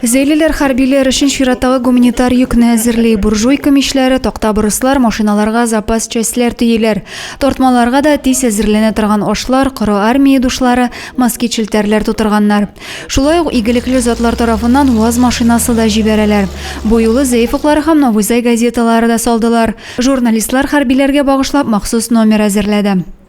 Зәйлеләр хәрбиләр өчен чираттагы гуманитар йөкне әзерли. Буржуйка мичләре, такта борыслар, машиналарга запас частьләр төяләр. Тартмаларга да тиз әзерләнә торган ашлар, коры армия душлары, москит-челтәрләр тутырганнар. Шулай ук игелекле затлар тарафыннан УАЗ машинасы да җибәрәләр. Бу юлы Зәеф уклары һәм Новый Зай газеталары да салдылар. Журналистлар хәрбиләргә багышлап махсус номер әзерләде.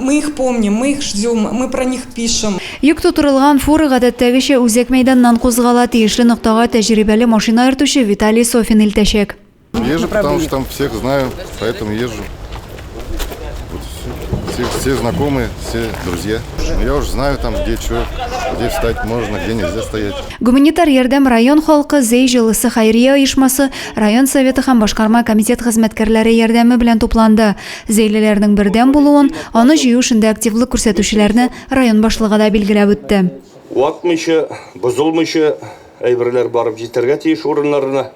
Мы их помним, мы их ждем, мы про них пишем. Йөк тутырылган фура гадәттәгечә үзәк мәйданнан кузгала, тиешле ноктага тәҗрибәле машина йөртүче Виталий Софин илтәчәк. Езжу, потому что там всех знаю, поэтому езжу. Все, все знакомые, все друзья. Ну, я уже знаю там, где что, где встать можно, где нельзя стоять. Гуманитар ярдәм район халкы Зей җылысы хәйрия оешмасы, район советы һәм башкарма комитет хезмәткәрләре ярдәме белән тупланды. Зәйлеләрнең бердәм булуын, аны җыю эшендә активлык күрсәтүчеләрне район башлыгы да билгеләп үтте. Ватмыйча, бозылмыйча әйберләр барып җитәргә тиеш урыннарына.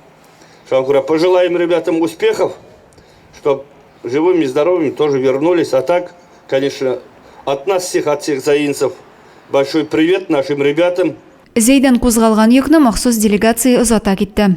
Шуңа күрә пожелаем ребятам успехов, чтоб живыми, здоровыми тоже вернулись. А так, конечно, от нас всех, от всех заинцев большой привет нашим ребятам. Зәйдән кузгалган йөкне махсус делегация озата китте.